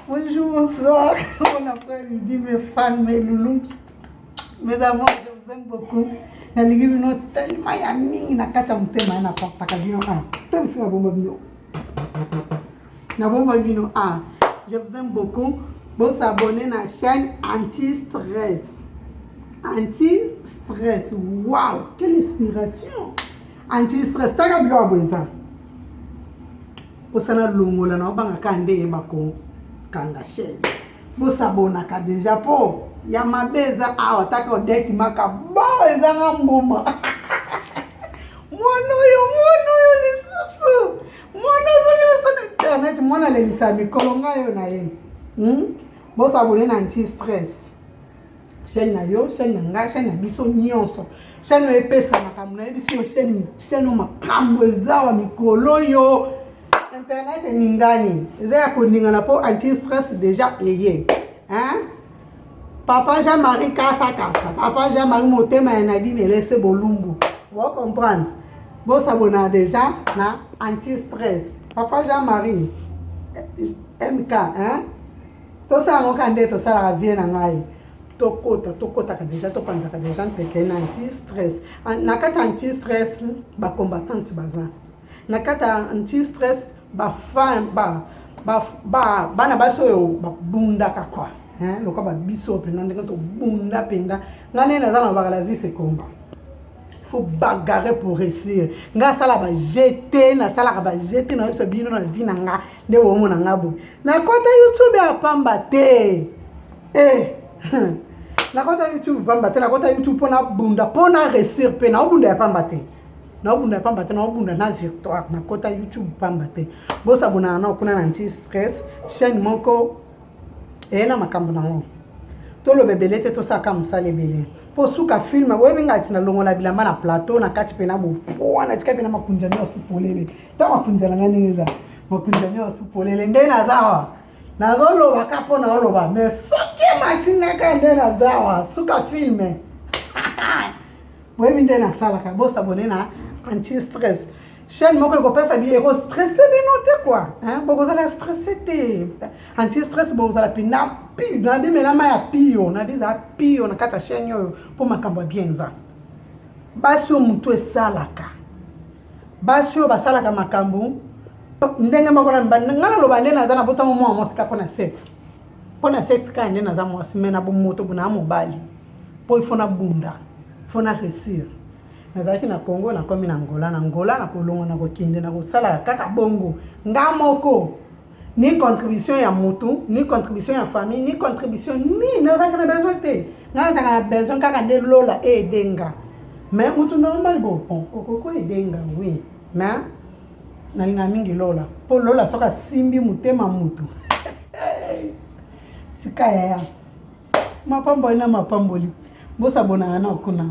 Bonjour, bonsoir, bon après-midi mes fans, mes loulous, mes amours, je vous aime beaucoup. nalingi bino telema ya mingi na kati ya motema ya napapaka bino a ah, to bisika nabomba bino nabomba bino a ah, je vous aime beaucoup bosabone na chaîne anti stress anti stress wow quelle inspiration anti stress taka biloko boye eza osala longola na obanga ka nde yeba ko kanga chaine bosabonaka deja po ya mabe eza awa taka odeki maka bo ezanga mbuma mwana oyo mwana oyo lisusu mwana ozongi biso na internet mwana alelisa mikolo ngai oyo na ye hmm? bosabone na anti stress chaîne na yo chaîne na ngai chaîne na biso nyonso chaîne oyo epesa makambo nayebi sio chaîne chaîne oyo makambo eza wa mikolo oyo internet eningani eza ya koningana mpo anti stress déjà eye hein? papa jean marie kasa kasa papa jean marie motema ya nadine elese bolumbu bo comprendre bosabona déjà na anti stress papa jean marie mk hein? tosala ngo ka nde tosalaka vie na ngai tokota tokotaka deja topanzaka deja nteke na anti stress na kati ya anti stress bacombattante baza na kati ya anti stress bafan ba, ba, ba, bana basi oyo babundaka kua lokola babiso mpenza ndenge tobunda mpenza ngai nde naza na baka la vie se combat faut bagarre pour réussir ngai asala bajete nasalaka bajete nayebisa bino na vie na ngai nde bomona nga boye nakota youtube ya pamba te eh. nakota youtube pamba te nakota youtube mpo nabunda mpo na resir mpe naobunda ya pamba te naobunda ya pamba te naobunda na victoire nakota youtube pamba te bosabonana nao kuna na nti stress chaîne moko eye na makambo nango toloba ebele te tosalaka mosala ebele mpo suka filme boyebi ngai ti nalongola bilamba na plateau na kati mpe na bowana tika mpe na makunja nyonso polele ta makunja na ngai ndenge eza makunja nyonso polele nde naza awa nazoloba ka mpo na oloba me soki emati nga ka nde naza awa suka filme boyebi nde nasalaka bosabone na anti stress chaîne moko ekopesa bino ekostresse bino te kua bokozala stresse te anti stress bokozala mpena pio na bimela mai ya pio na bizala pio na kati ya chaîne oyo mpo makambo ya bien eza basi oyo motu esalaka basi oyo basalaka makambo ndenge moko na mibali ngai naloba nde naza na botango mwa mwasi kaka mpona sexe mpona sexe kaka nde naza mwasi mai na bomoto bona mobali mpo ifo na bunda fo na resire nazalaki na congo nakomi na ngola na ngola na kolongo na kokende na kosalaka kaka bongo nga moko ni contribution ya mutu ni contribution ya famille ni contribution nini nazalaka na besoin te nga nazalaka na besoin kaka nde lola eede nga mais mutu normal bopon okoki oede nga oui mais nalinga mingi lola mpo lola soki asimbi motema mutu tika yaya mapamboli na mapamboli bosabonaka na kuna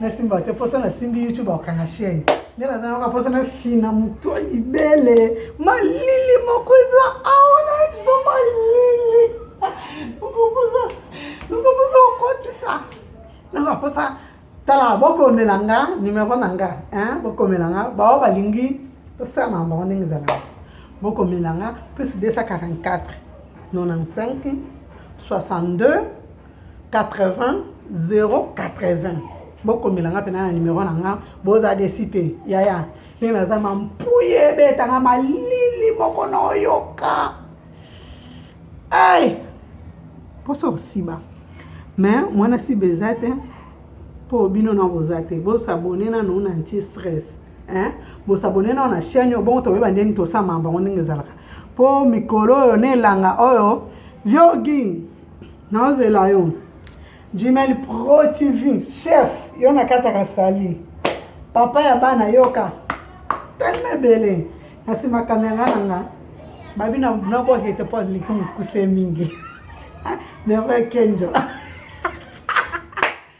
nasimba te poso nasimbi youtube akokanga chaine nde naza nanga poso nafina moto libele malili moko eza awa na biso malili nkoposa okotisa nanga posa tala bokomela nga numero na nga bokomela nga bao balingi tosala na bango ndenge ezalaka ti bokomela nga plus 244 95 62 80 080 bokomela nga mpena na nimero na nga boza desi te yaya ndenge naza mampuye ebetanga malili moko na oyoka ai mposa osiba me mwana siba eza te mpo bino na boza te bosabone nano na nti stress bosabone nano na chaine oyo bongo toyeba ndeni tosamamba ngo ndenge ezalaka mpo mikolo oyo na elanga oyo viogi naozela yo jumel pro tv chef yo nakataka sali papa ya bana yoka telema ebele na nsima kamera na nga babi nabohete mpo aliki mokuse mingi neve kenjo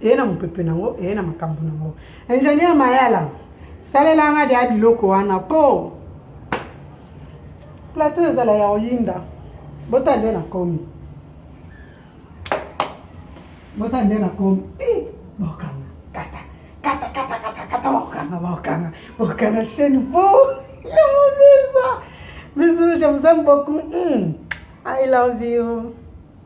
eye na mopepe na yango eye na makambo na yango ingénieur mayala salela nga deya biloko wana mpo plateau ezala ya oyinda bota nde nakomi bota nde nakomi eh, bokanga kata kata kata kata kata bokanga bokanga bokanga chaîne bo ya mobisa bisous je vous aime beaucoup mm. i love you